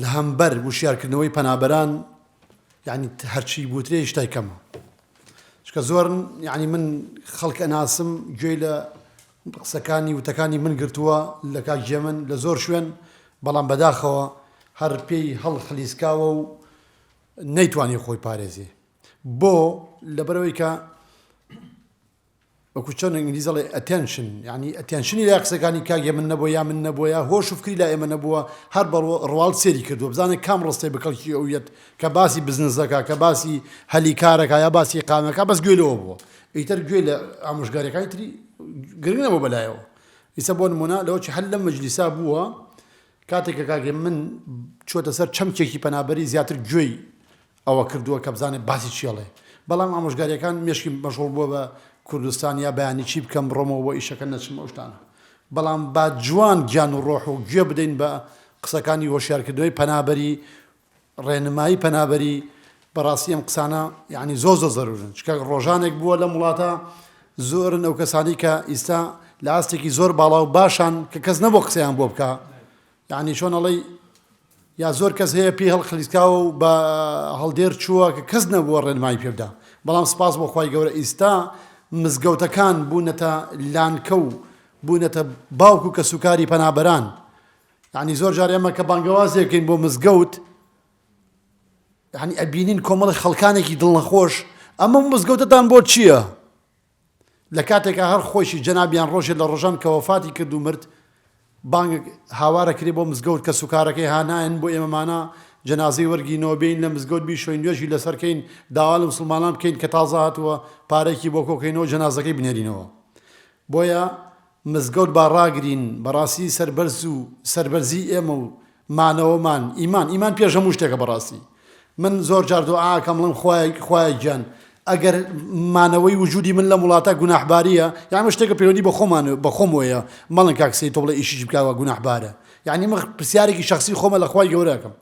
لەهەمبەر وشیارکردنەوەی پەنابەران یعنی هەرچی بوترێ شتای کەمە چکە زۆرن یعنی من خەڵک ئەناسم گوێی لە قسەکانی وتەکانی من گرتووە لە کاکجێ من لە زۆر شوێن بەڵام بەداخەوە هەر پێی هەڵ خلیسکاوە و نەیتوانی خۆی پارێزێ بۆ لەبەرەوەی کە وەکو چۆن ئینگلیز دەڵێ Attention یانی ئەتێنشنی لای قسەکانی کاک هێمن نەبووە یا من نەبووە هۆش و فکری لای ئێمە نەبووە هەر بە ڕواڵ سێری کردووە بزانە کام ڕستەی بە کەڵکی ئەو یەت کە باسی بزنس دەکا کە باسی هەلی کارەکە یا باسی ئیقامەکە بەس گوێ لەوە بووە ئیتر گوێ لە ئامۆژگاریەکانی تری گرنگ نەبوو بەلایەوە ئیسە بۆ نمونە لەوە چ هەر لەم مەجلیسا بووە کاتێک کە کاک هێمن چووەتە سەر چەمکێکی پەنابەری زیاتر گوێی ئەوە کردووە کە بزانێت باسی چی ئەڵێ بەڵام ئامۆژگاریەکان مێشکیم مەشغوڵ بووە بە کوردستان یا بەیانی چی بکەم بڕۆمەوە بۆ ئیشەکە نەچم ئەو شتانە بەڵام با جوان گیان و ڕۆح و گوێ بدەین بە قسەکانی هۆشیارکردنەوەی پەنابەری ڕێنمایی پەنابەری بەڕاستی ئەم قسانە یعنی زۆر زۆر زەرورن چکە ڕۆژانێک بووە لەم وڵاتە زۆرن ئەو کەسانی کە ئیستا لە ئاستێکی زۆر باڵا و باشان کە کەس نەبوو قسەیان بۆ بکە یەعنی چۆن ئەڵێی یا زۆر کەس هەیە پێی هەڵخلیسکاوە و بە هەڵدێر چووە کە کەس نەبووە ڕێنمایی پێ بدا بەڵام سپاس بۆ خوای گەورە ئیستا مزگەوتەکان بوونەتە لانکە و بوونەتە باوک و کەسوکاری پەنابەران یعنی زۆر جار ئێمە کە بانگەوازێکین بۆ مزگەوت یعنی ئەبینین کۆمەڵی خەڵکانێکی دڵنەخۆش ئەمە مزگەوتتان بۆ چییە؟ لە کاتێکا هەر خۆیشی جەنابیان ڕۆژێ لە ڕۆژان کە وەفاتی کرد و مرد بانگەک هاوارە کرێ بۆ مزگەوت کەس و کارەکەی ها نایەن بۆ ئێمەمانا جەنازەی وەرگینەوە بێین لە مزگەوت بیشۆین نوێژی لەسەر کەین داوا لە مسوڵمانان بکەین کە تازە هاتووە پارەیەکی بۆ کۆکەینەوە جەنازەکەی بنێرینەوە بۆیە مزگەوت با ڕاگرین بەڕاستی سەربەرز و سەربەرزی ئێمە و مانەوەمان ئیمان ئیمان پێش هەموو شتێکە بەڕاستی من زۆر جار دوعا ئەکەم بڵێم خوایە خوایە گیان ئەگەر مانەوەی وجودی من لەم وڵاتە گوناحبارییە یان ئەمە شتێکە پەیوەندی بە خۆمان بە خۆمەوەیە مەڵن کاک سەید تۆ بڵێ ئیشیش بکەوە گوناحبارە یەعنی من پرسیارێکی شەخسی خۆمە لە خوای گەورە ئەکەم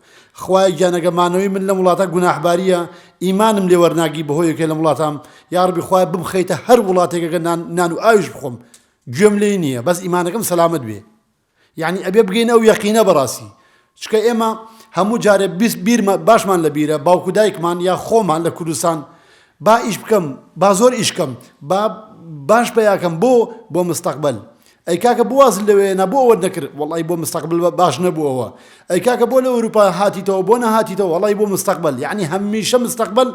خوایە گیان ئەگەر مانەوەی من لەم وڵاتە گوناحباریە ئیمانم لێ وەرناگی بەهۆی یەکێ لەم وڵاتام یاڕبی خوایە بمخەیتە هەر وڵاتێکە کە نان نان و ئاویش بخۆم گوێم لێی نییە بەس ئیمانەکەم سەلامەت بێ یعنی ئەبێ بگەین ئەو یەقینە بەڕاستی چکە ئێمە هەموو جارێ بیست بیرمە باشمان لە بیرە باوکو دایکمان یا خۆمان لە کوردستان با ئیش بکەم با زۆر ئیشکەم با باش پیاکەم بۆ بۆ مستەقبل ئەی کاکە بۆ وازت لەوێ هێنا بۆ ئەوەت نەکرد وەڵایی بۆ مستەقبەل باش نەبووەوە ئەی کاکە بۆ لە ئەوروپا هاتیتەوە بۆ نەهاتیتەوە وەڵایی بۆ مستەقبەل یەعنی هەمیشە مستەقبەل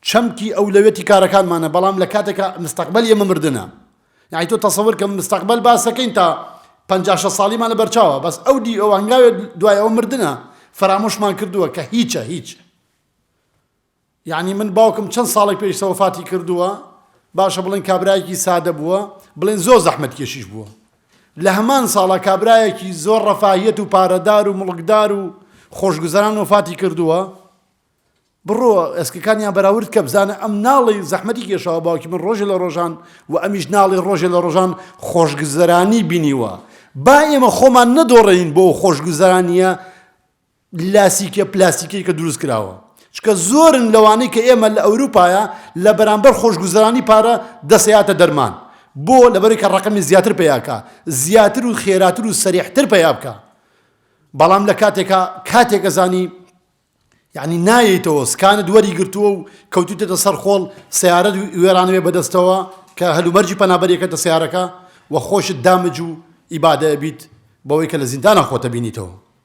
چەمکی ئەولەوێتی کارەکانمانە بەڵام لە کاتێکا مستەقبەل ئێمە مردنە یەعنی تۆ تەسەور کە مستەقبەل باس دەکەین تا پەنجا شەست ساڵیمان لە بەرچاوە بەس ئەو دی ئەو هەنگاوێ دوای ئەوە مردنە فەرامۆشمان کردووە کە هیچە هیچ یەعنی من باوکم چەند ساڵێک پێشتە وەفاتی کردووە، باشە بڵێن کابرایەکی سادە بووە، بڵێن زۆر زەحمەتکێشیش بووە. لە هەمان ساڵا کابرایەکی زۆر ڕەفاهیەت و پارەدار و موڵکدار و خۆشگوزەران وەفاتی کردووە، بڕۆ ئێسکەکانیان بەراورد کە بزانە ئەم ناڵێی زەحمەتی کێشاوە باوکی من ڕۆژێ لە ڕۆژان و ئەمیش ناڵێ ڕۆژێ لە ڕۆژان خۆشگوزەرانی بینیوە. با ئێمە خۆمان نەدۆڕێین بۆ ئەو خۆشگوزەرانییە، لاسیکە پلاستیکیەکە دروست کراوە چکە زۆرن لەوانەی کە ئێمە لە ئەوروپایا لە بەرامبەر خۆشگوزەرانی پارە دەسەیاتە دەرمان بۆ لەبەرەی کە ڕەقەمی زیاتر پیاکە زیاتر و خێراتر و سەریحتر پیا بکە بەڵام لە کاتێکا کاتێکە زانی یعنی نایەیتەوە سکانت وەری گرتووە و کەوتوتێتە سەر خۆڵ سیارەت وێرانەوێ بەدەستەوە کە هەلومەرجی پەنابەریەکەتە سیارەکە و خۆشت دامج و ئیبادە بیت بەوەی کە لە زیندانە خۆتە بینیتەوە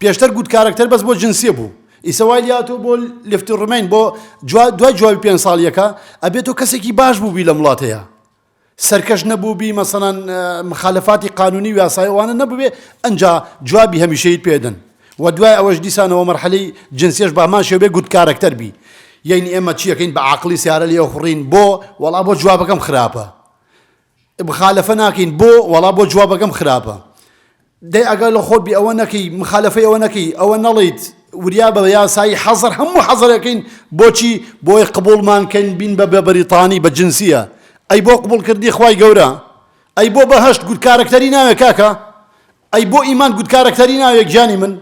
پێشتر گوت کارەکتەر بەس بۆ جنسیە بوو ئیسە وای لاتۆ بۆ لفتی ڕمین بۆ جوا دوای جوابی پێنج ساڵیەکە ئەبێ تۆ کەسێکی باش بووبی لەم وڵاتەیە سەرکەش نەبووبی مەسەنان مخالفاتی قانونی و یاسای ئەوانە نەبووێ ئەنجا جوابی هەمیشەیت پێدن و دوای ئەوەش دیسانەوە مەرحەلەی جنسیش بامان شێوێ گوت کارەکتەر بی یعنی ئێمە چیەکەین بە عقلی سیارە لێ خوڕین بۆ وەڵا بۆ جوابەکەم خراپە مخالەفە ناکەین بۆ وەڵا بۆ جوابەکەم خراپە دەی ئەگەر لە خۆت بی ئەوە نەکەی مخالەفەی ئەوە نەکەی ئەوە نەڵیت وریا بە یاسایی حەزەر هەموو حەزەرەکەین بۆچی بۆی قبولمان کەین بین بە بە بەریتانی بە جنسیە ئەی بۆ قبول کردی خوای گەورە ئەی بۆ بەهشت گوت کارەکتەری ناوێ کاکە ئەی بۆ ئیمان گوت کارەکتەری ناوێ گیانی من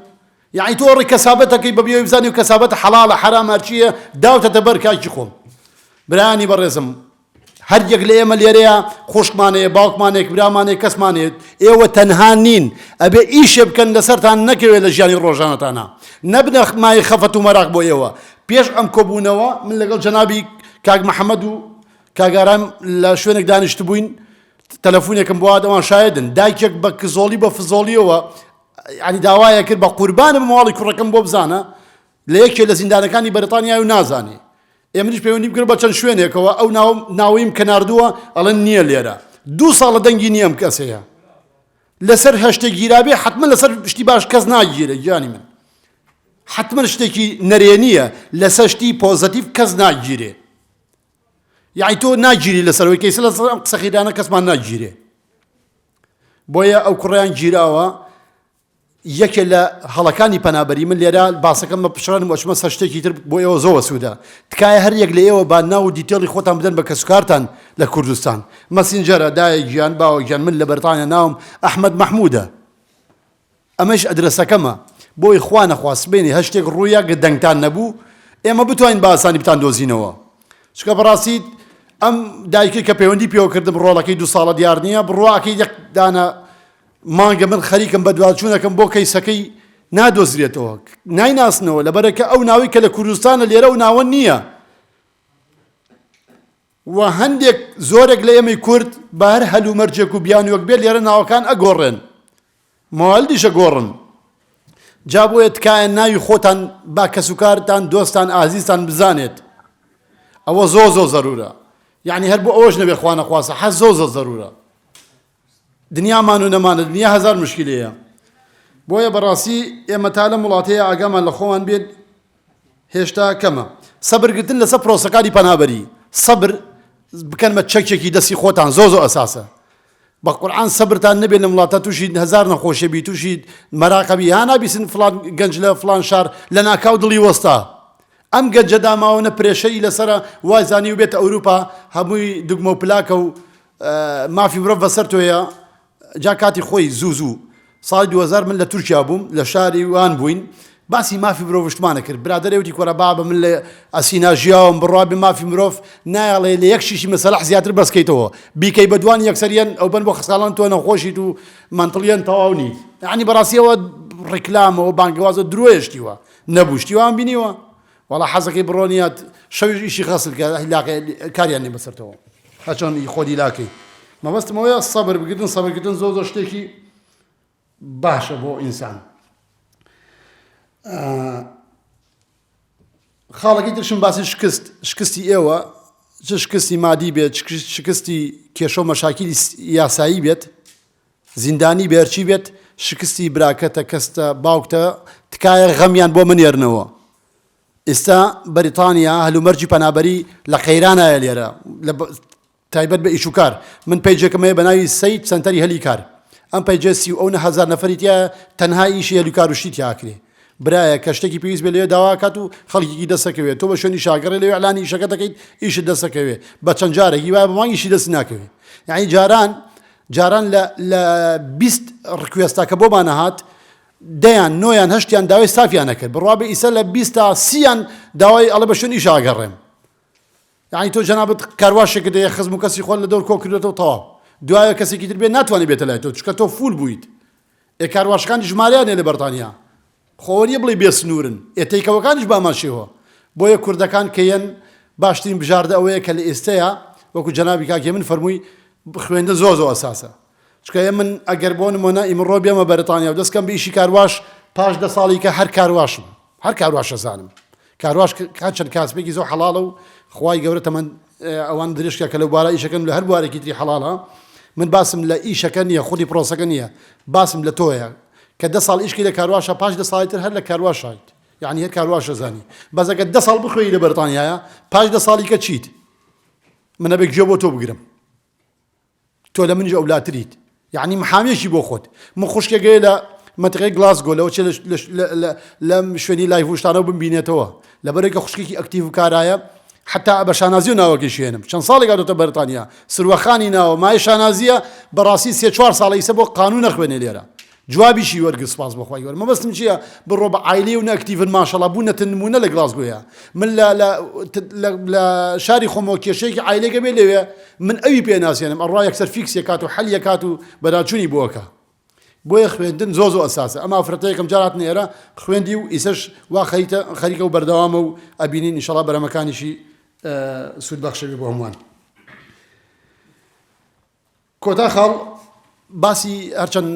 یعنی تۆ ڕێک کەسابەتەکەی بە بیۆی بزانانی و کەسابەت حەڵالە حرامارچیە داوتە دەبەر کاکی خۆم برانی بەڕێزم هەر یەک لە ئێمە لێرەیە، خوشکمان هەیە، باوکمان هەیە، برامانە هەیە، کەسمان هەیە. ئێوە تەنها نین. ئەبێ ئیشێ بکەن لەسەرتان نەکەوێ لە ژیانی ڕۆژانەتانا. نەبنە مایەی خەفەت و مەراق بۆ ئێوە. پێش ئەم کۆبوونەوە من لەگەڵ جەنابی کاک محەمەد و کاک ئارام لە شوێنێک دانیشتبووین، تەلەفونێکم بۆ هات، ئەوان شایەدن. دایکێک بە کزۆڵی بە فزۆڵییەوە یانی داوایەکرد بە قوربانم ماڵی کوڕەکەم بۆ بزانە، لە یەکێ لە زیندانەکانی بەریتانیایە و نازانێ. ئێ منیش پەیوەندیم کرد بە چەند شوێنێکەوە، ئەو ناوم ناوەیم کە ناردووە ئەڵێن نییە لێرە. دوو ساڵە دەنگی نییە ئەم کەسەیە. لەسەر هەشتێ گیرابێ حەتمەن لەسەر شتی باش کەس ناگیرێ گیانی من. حەتمەن شتێکی نەرێنییە لەسەر شتی پۆزەتیڤ کەس ناگیرێ. یعنی تۆ ناگیری لەسەرەوەی کەیسە لەسەر ئەم قسە خیرانە کەسمان ناگیرێ. بۆیە ئەو کوڕیان گیراوە یەکێ لە هەڵەکانی پەنابەری من لێرە باسەکەم بە پچڕانم ئەچمە سەر شتێکی تر بۆ ئێوە زۆر وەسوودە تکایە هەر یەک لە ئێوە با ناو و دیتێڵی خۆتان بدەن بە کەسوکارتان لە کوردستان مەسینجەرە دایە گیان باوە گیان من لە بەرتانیا ناوم ئەحمەد مەحمودە ئەمەش ئەدرەسەکەمە بۆی خوا نەخوا سبێنی هەر شتێک ڕوویا گە دەنگتان نەبوو ئێمە بتوانین بە ئاسانی بتان دۆزینەوە چکە بەڕاستیت ئەم دایکێک کە پەیوەندی پێوە کردم ڕۆڵەکەی دو ساڵە دیار نییە بڕواکەی یەک دانە مانگە من خەریکم بەدواچوونەکەم بۆ کەیسەکەی نادۆزرێتەوە نایناسنەوە لەبەرەکە ئەو ناوەی کە لە کوردستانە لێرە ئەو ناوە نییە و هەندێک زۆرێک لە ئێمەی کورد بە هەر هەل و مەرجێک و بیانوەک بێت لێرە ناوەکان ئەگۆڕێن ماوەلدیشە گۆڕن جا بۆیە تکایە ناوی خۆتان با کەس و کارتان دۆستان ئازیزتان بزانێت ئەوە زۆ زۆ زەرورە یعنی هەر بۆ ئەوەش نەبێ خوانەخواسە حە زۆ زۆ زەرورە دنیامان و نەمانە دنیا هەزار مشکیلەیە بۆیە بەڕاستی ئێمە تا لەم وڵاتەیە ئاگامان لە خۆمان بێت هێشتا کەمە سەبرگرتن لەسەر پرۆسەکانی پەنابەری سەبر بکەن بە چەکێکی دەستی خۆتان زۆ زۆ ئەساسە بە قورآان سەبرتان نەبێت لە وڵاتە تووشی هزار نەخۆشە بی تووشی مەراقەبی ها نابیسن فلان گەنج لە فلان شار لە ناکاو دڵی وەستا ئەم گەنجە داماوە نە پرێشەری لەسرە وایزانی و بێتە ئەوروپا هەمووی دگمە و پلاکە و مافی مرۆڤ بەسەر تۆیە جا کاتی خۆی زوو زوو ساڵی دوو هەزار من لە تورکیا بووم لە شاری وان بووین باسی مافی مرۆڤشتمانە کرد برادەرێ وتی کۆرە بابە من لە ئەسینا ژیاوم بڕوابێ مافی مرۆڤ نایەڵێ لە یەک شیشی مەسەلەح زیاتر بەسکەیتەوە بیکەی بە دوان یەکسەریان ئەو بن بۆ خەساڵان تۆ نەخۆشیت و مەنتڵیان تەواو نیت یعنی بەڕاستیەوە ڕیکلامەوە بانگەوازە درۆیشتیوە نەبوو شتیوان بینیوە وەڵا حەزەکەی بڕۆنیات شەویش ئیشی غەسل کە لاقێ کاریان نیە بەسەرتەوە هەچۆن ئی خۆدی لاکەی مەبەستم ئەوەیە سەبر بگرن سەبرکردن زۆر زۆر شتێکی باشە بۆ ئینسان خاڵەکەی ترشم باسی شکست شکستی ئێوە چ شکستی مادی بێت شکستی کێشە و مەشاکیلی یاسایی بێت زیندانی بەرچی بێت شکستی براکەتە کەستە باوکتە تکایە غەمیان بۆ منێرنەوە ئیستا بەریتانیا هەلومەرجی پەنابەری لە قەیرانایە لێرە لە تایبەت بە ئیشوکار من پەیجێکم هەیە بە ناوی سید سەنتەری هەلی کار ئەم پەیجێ سی و ئەو نەهزار نەفەریتە تەنها ئیشی هەلوکاروشتی تیاکرێ برایە کە شتێکی پێویست بێ لێ داواکات و خەڵکیی دەسەکەوێت تۆ بە شوێنی شاگەڕێ لەوێ ئەلانی ئیشەکە دەکەیت ئیشت دەسەکەوێ بە چەند جارێکی وایە بە مانگیشی دەست ناکەوێت یعنی جاران جاران لە لە بیست ڕکوێستا کە بۆمان ئەهات دەیان نۆیان هەشتیان داوای سافیان ئەکرد بڕوابێ ئیسە لە بیست تا سییان داوای ئەڵێ بە شوێن ئیشا ئەگەڕێم یانی تۆ جەنابت کارواشێکت هەیە خزم و کەسی خۆت لە دەور کۆ کردوێتەوە تەواو دوایە کەسێکی تر بێت ناتوانێت بێتە لای تۆ چونکە تۆ فول بوویت ئێ کارواشەکانیش ژمارەیان نیە لە بەرتانیا خۆ ئەوە نیە بڵێی بێ سنورن ئێ تەیکەوەکانیش بامان شێوە بۆیە کوردەکان کە یەن باشترین بژاردە ئەوەیە کە لە ئێستەیا وەکو جەنابی کاک هێمن فەرمووی خوێندن زۆر زۆر ئەساسە چکە ئێ من ئەگەر بۆ نمۆنە ئیمڕۆ بێمە بەرتانیا و دەست کەم بە ئیشی کارواش پاش دە ساڵی کە هەر کارواشم هەر کارواشە زانم کارواش کات چەند کاسبێکی زۆر حەڵاڵە و خوای گەورە تەمەند ئەوان درشکە کە لە بارە ئیشەکەن لە هەر بوارێکی تری حەڵاڵە من باسم لە ئیشەکە نییە خودی پرۆسەکە نییە باسم لە تۆیە کە دە ساڵ ئیشکی لە کارواشە پاش دە ساڵی تر هەر لە کارواشایت یعنی هەر کارواشە زانی بەزەکە دە ساڵ بخوێی لە بەرتانیایە پاش دە ساڵی کە چیت منە بێک گوێ بۆ تۆ بگرم تۆ لە منیش ئەولاتریت یەعنی محامیەکی بۆ خۆت من خوشکێ گەێ لە مەتەقەی گلاسگۆ لەوە چێ لەم شوێنی لای هوشتانەوە بمبینێتەوە لەبەرێکە خوشکێکی ئەکتیڤ و کارایە حتا بە شانازی و ناوەکەی شوێنم چەند ساڵێک گاتۆتە بەرتانیا سروەخانی ناوە مای شانازیە بەڕاستی سێ چوار ساڵی سە بۆ قانون نەخوێنێ لێرە جوابیشی وەرگرت سوپاس بۆ خوای گەورە مەبەستم چیە بڕۆ بە عایلەی ونە ئەکتیڤن ماشەڵا بونەتە نمونە لە گڵاسگۆیا من لە لە لە لە شاری خۆمەوە کێشەیەکی عایلەی گەبێ لەوێ من ئەوی پێ ناسێنم ئەڕا یەکسەر فیکسێ کات و حەلیە کات و بەراچوونی بۆ ئەکا بۆیە خوێندن زۆ زۆ ئەساسە ئەم ئافرەتە یەکەم جار هاتنە ئێرە خوێندی و ئیسەش وا خەریتە خەریکە و بەردەوامە و ئەبینین ئینشەڵا بەرەمەکانیشی سوود بەخشەوی بۆ هەمووان کۆتا خاڵ باسی هەرچەند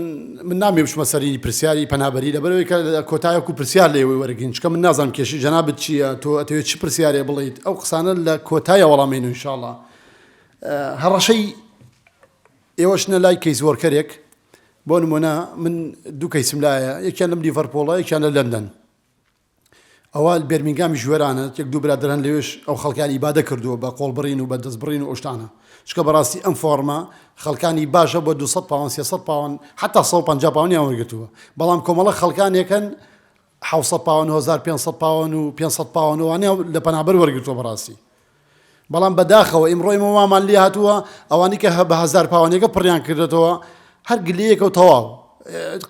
من نامی بچمە سەری پرسیاری پەنابەری لەبەرەوەی کە کۆتایەک و پرسیار لێ وەرگین چکە من نازانم کێشی جەنابت چییە تۆ ئەتەوێت چ پرسیارێ بڵیت ئەو قسانە لە کۆتایە وەڵامین و انشاءاللە هەڕەشەی ئێوەشنە لای کەیس وەرکەرێک بۆ نمونە من دوو کەیسم لایە یەکیان لەم لیڤەرپۆڵە یەکیان لە لەندەن ئەوە بێرمینگامیش وێرانە، یەک دوو برادەر هەن لەوێش ئەو خەڵکەیان ئیبادە کردووە بە قۆڵبڕین و بە دەستبڕین و ئەو شتانە. چونکە بەڕاستی ئەم فۆڕمە خەڵکانی باشە بۆ دوو سەد پاوەن، سێ سەد پاوەن، حەتتا سەد و پەنجا پاوەنیان وەرگرتووە. بەڵام کۆمەڵە خەڵکانێک هەن حەوت سەد پاوەن، هەزار پێنج سەد پاوەن و پێنج سەد پاوەن و وانە لە پەنابەر وەرگرتووە بەڕاستی. بەڵام بە داخەوە ئیمڕۆ ئێمە وامان لێ هاتووە ئەوانی کە هە بە هەزار پاوانێکە پڕیان کردێتەوە هەر گلەیەکە و تەواو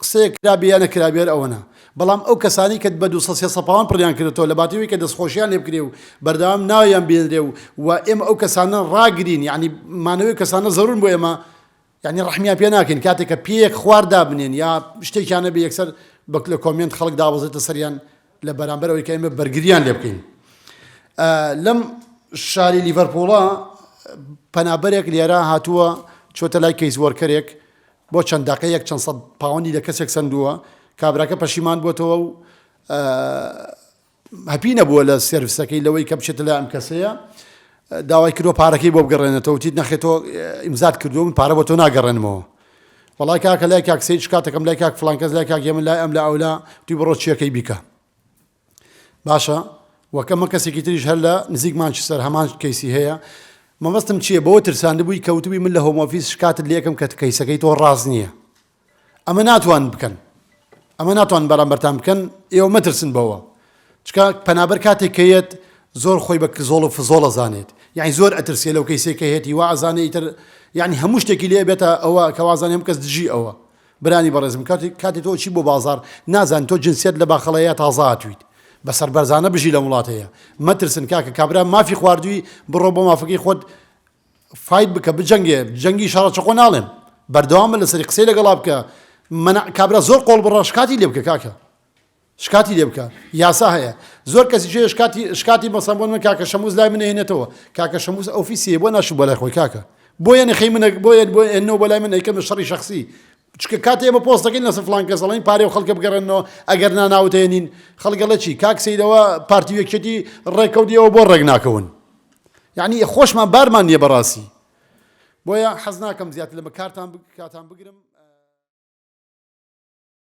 قسەیە کرابێ یا نەکرابێر ئەوەنە بەڵام ئەو کەسانی کە بە دو سە پاوان پڕیان کردێتەوە لە باتیوی کە دەستخۆشیان لێ بکرێ و بەردەوام ناویان بێنرێ و و ئێمە ئەو کەسانە ڕاگرین یعنی مانەوەی کەسانە زەرورن بۆ ئێمە یانی ڕەحمیان پێ ناکەین کاتێک کە پێیەک خوار دابنێن یا شتێکیان نەبێ یەکسەر بەک لە کۆمێنت خەڵک دابەزێتە سەریان لە بەرامبەر ئەوەی کە ئێمە بەرگریان لێ بکەین لەم شاری لیڤەرپوڵە پەنابەرێک لێرە هاتووە چۆتە لای کەیس وەرکەرێک بۆ چەند داقەیەک چەند سەد پاوەندی لە کەسێک سندووە کابراکە پەشیمان بووتەوە و هەپی نەبووە لە سێرڤسەکەی لەوەی کە بچێتە لای ئەم کەسەیە داوای کردوە پارەکەی بۆ بگەڕێنێتەوە وتیت نەخێ تۆ ئیمزات کردووە من پارە بۆ تۆ ناگەڕێنمەوە وڵای کاکە لای کاک سید شکاتەکەم لای کاک فلان کەس لای کاک یەمن لای ئەم لە ئەولا توی بڕۆ چیەکەی بیکە باشە وەکەمە کەسێکی تریش هەر لە نزیک مانچستەر هەمان کەیسی هەیە مەبەستم چییە بەوە ترساند بووی کەوتبی من لە هۆمۆفیس شکاتت لەکەم کە کەیسەکەی تۆ ڕاست نییە ئەمە ناتوان بکەن ئەمە ناتوان بەرامبەرتان بکەن ئێوە مەترسن بەوە چکە پەنابەر کاتێک کە یەت زۆر خۆی بە زۆڵ و فزۆڵە زانێت یعنی زۆر ئەترسێ لەو کەیسێک کە هێتی وا ئەزانێ ئیتر یعنی هەموو شتێکی لێ بێتە ئەوە کەوازان هەم کەس دژی ئەوە برانی بەڕێزم کاتی کاتی تۆ چی بۆ بازار نازان تۆ جنسیت لە باخەڵەیە تازاتویت بە سەربەرزانە بژی لە وڵاتەیە مەترسن کاکە کابرا مافی خواردووی بڕۆ بۆ مافەکەی خۆت فایت بکە بجەنگێ جەنگی شەڕە چەقۆ ناڵێم بەردەوام بە لەسەری قسەی لەگەڵا بکە منع کابرا زۆر قۆڵ بڕە شکاتی لێ بکە کاکە شکاتی لێ بکە یاسا هەیە زۆر کەسی جێ شکاتی شکاتی مەسەن بۆ من کاکە شەموز لای من هێنێتەوە کاکە شەموز ئۆفیسی بۆ ناشی بۆ لای خۆی کاکە بۆ یەنە خەی منە بۆ یەن بۆ ئێنەوە بۆ لای من ئەیکەم لە شەڕی شخصی چکە کاتی ئێمە پۆستەکەین لەسەر فلان کەس دەڵێن پارێ و خەڵکە بگەڕێنەوە ئەگەر ناناوتێنین خەڵگەڵەچی کاکسیدەوە پارتی وەکێتی ڕێکەوتیەوە بۆ ڕێک ناکەون یەعنی خۆشمان بارمان نیە بەڕاستی بۆیە حەزناکەم زیاتر لەمە کارتان کاتان بگرم.